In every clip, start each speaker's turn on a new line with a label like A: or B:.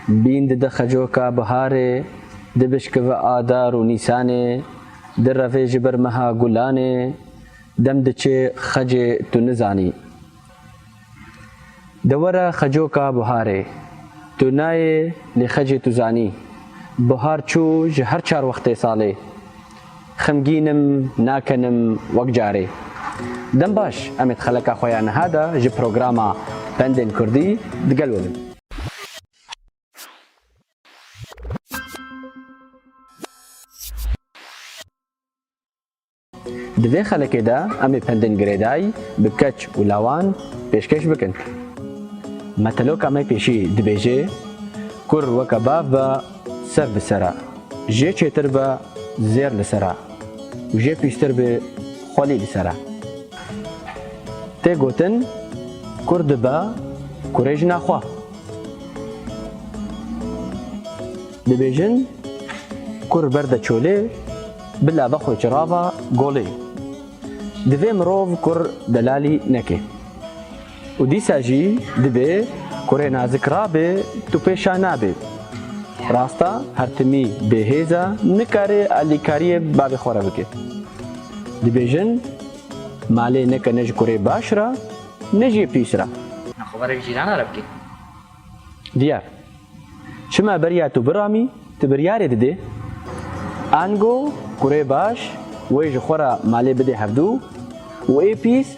A: Bîn dide xecoka biharê, dibişkive adar û nîsanê, direvê ji ber meha gulanê, dem diçê xecê tu nizanî. De were xecoka biharê, tu nayê lê xecê tu zanî. Bihar çû ji her çar wextê salê. Xemgîn im, nakin im wek carê. Dem baş, em ê di xeleka xwe ya niha de ji programa Pendên Kurdî digel we bin. Di vê xelekê de em ê pendên girêdayî bi keç û lawan pêşkêş bikin. Meteloka me pêşî dibêje, Kur weke bav be, Ser bi ser e. Jê çêtir be zêr li ser e û jê pîştir be xwelî li ser e. Tê gotin kur dibe kurê jina xwe. Dibêjin kur berde çolê bila be xwe çirava golê. Divê mirov kur delalî neke. Û dîsa jî dibê kurê nazik rabê tu pê şa nabî. Rasta her timî bêhêz e nikarê alîkariyê bavê xwe re bike. Dibêjin malê neke ne ji kurê baş re ne jî pîs re. Xeberek cîrana re bike. Diyar, çima beriya tu biramî, tu biryarê didê? Ango kurê baş wê ji xwe re malê bidê hevdu û ê pîs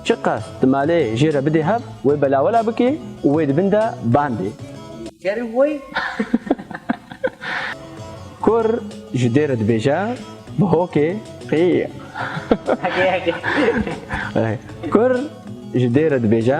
A: çiqas di malê jê re bidê hev wê belawela bike û wê di bin de bandê. Kerê wê. Kur ji dê re dibêje bi hokê qîq. Kur ji dê re dibêje.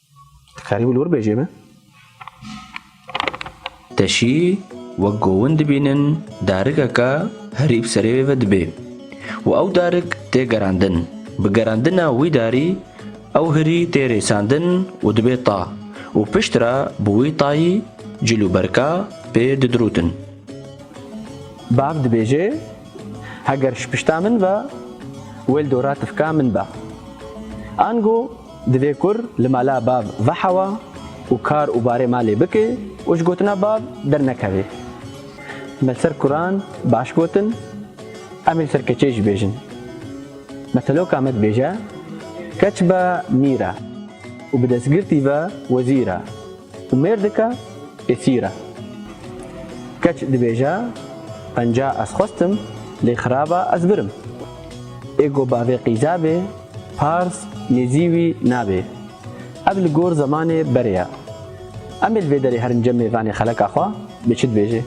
A: Dikarî wî li wir bêjê me? Teşî wek gowin dibînin darikeke herî bi serê wê ve dibe û ew darik tê gerandin. Bi gerandina wî darî ew hirî tê rêsandin û dibe ta û piştre bi wî tayî cil û berka pê didirûtin. Bav dibêje, Heger ji pişta min ve, wê li dora tifka min be. Ango Divê kur li mala bav vehewa û kar û barê malê bike û ji gotina bav dernekeve. Me li ser kuran baş gotin, em ê li ser keçê jî bêjin. Meteloka me dibêje, Keç be mîr e û bi destgirtî ve wezîr e û mêrdik e esîr e. Keç dibêje, Penca ez xwestim lê xiraba ez birim. Ê ku bavê qîze bê, Pars, Nêzî wî nabê. Ev li gor zemanê berê ye. Em ê li vê derê herin cemê venê xeleka xwe, bê çi dibêjê?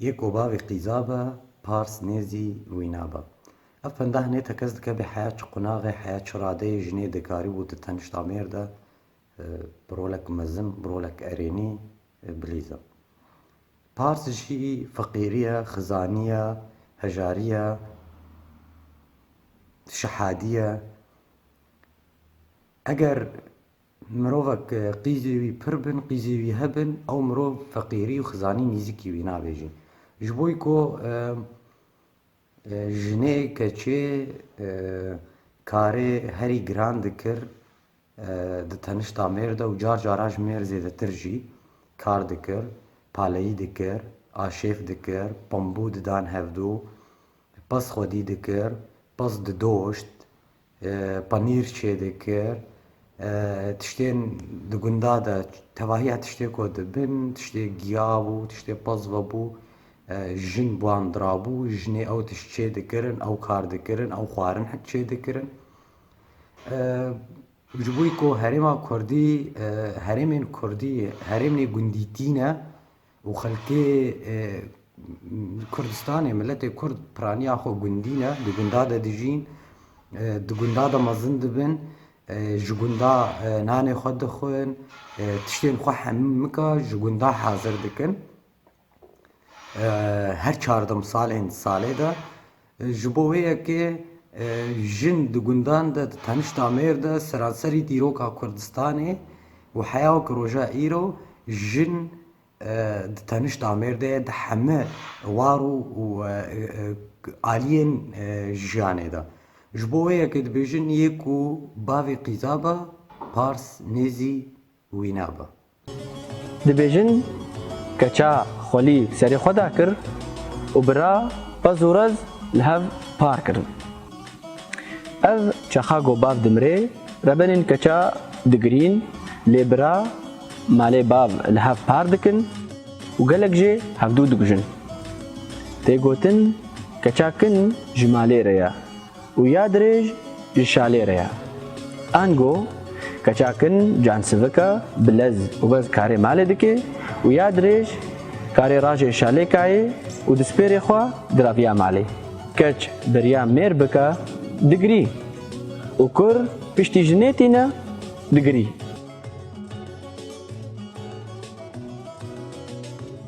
A: Yê ku bavê qîza be, pars nêzî wî nabe. Ev pendeh nê tekez dikeve heya çi qunaxê, heya çi radeyê jinê dikarîbû di tenişta mêrde Bi rolek mezin, bi rolek erênî bilîz e. Pars jî feqîriya, xizaniya, hejariya, şehadiya. Eger mirovek qîzê wî pir bin, qîzê wî hebin, ew mirov feqîrî û xizanî nîzikî wî nabêjin. Ji bo ku jinê, keçê karê herî giran dikir, Di tenişta mêr de û car caran ji mêr zêdetir jî kar dikir, paleyî dikir, aşêf dikir, pambû didan hevdû, pez xwedî dikir, pez didoşt, panîr çêdikir, tiştên di gunda de tevahiya tiştê ku dibin, tiştê giya bû, tiştê pez vebû, jin bi wan dirabû, jinê ew tişt çêdikirin, ew kar dikirin, ew xwarin çêdikirin. Ji bo ku herêma kurdî herêmên kurdî herêmên gundî tîne û xelkê Kurdistanê miletê kurd piraniya xwe gundî ne di gundan de dijîn di gundan de mezin dibin ji gundan nanê xwe dixwin tiştên xwe hemû nika ji gundan hazir dikin. her çar demsalên salê de ji bo wê ye ke jin di gundan de di tenişta mêr de seranserî dîroka Kurdistanê û heya wek roja îro jin di tenişta mêr de ye di heme war û aliyên jiyanê de. Ji bo wê ye ke dibêjin yê ku bavê qîzaba pars nêzî wî naba. Dibêjin, keça xwelî serê xwe da kir û bi ra pez û rez li hev par kirin. Ev çaxa ku bav dimirê, rebenên keça digirîn lê bi ra malê bav li hev par dikin û gelek jê hevdu dikujin. Tê gotin keça kin ji malê re ye. û ya dirêj ji şalê re ye. Ango, keça kin, cansivika, bilez û bez karê malê dike û ya dirêj karê rajê şalê kayê û dispêrê xwe diraviya malê. Keç beriya mêr bike, digirî û kur piştî ji nêtîne, digirî.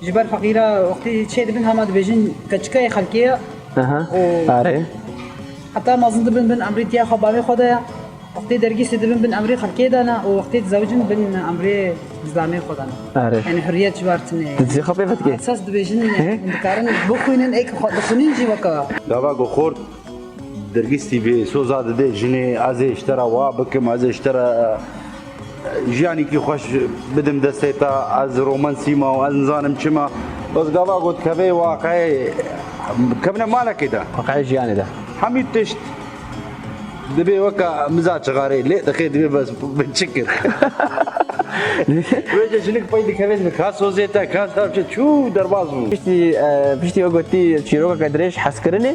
A: Ji ber feqîra wextê çê dibin hema dibêjin keçikayê xelkê ye û heta mezin dibin bin emrê tiya xwe bavê xwe de ye. Wextê dergîsê dibin bin emrê xelkê de ne û wextê dizewicin bin emrê zilamê xwe de ne. Yanî huriyet ji ber tune ye. Tu dizî xwe pê ve dikê? Esas dibêjin hûn dikarin bixwînin ê ku xwe dixwînin jî weke. Gava ku xort Dergîs TV soza dide jinê ez ê ji te re wa bikim ez ê ji te re jiyanîkî xweş bidim destê te ez romansî ma û ez nizanim çi ma bes gava got kevê waqeyê kevne malekê de waqeyê jiyanê de hemî tişt dibê weka miza çigarê lê dixê dibê bes min çi kir Wêce jinik pey dikevên min ka sozê te ka çû derbaz bû. Piştî piştî we gotî çîrokeke dirêj hezkirinê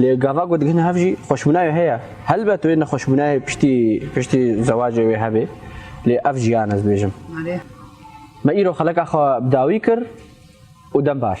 A: Lê gava ku digihin hev jî xweşbûnayê heye. Helbet wê nexweşbûnayê piştî piştî zewacê wê hebê. Lê ev jiyan ez dibêjim. Me îro xeleka xwe bi dawî kir û dem baş.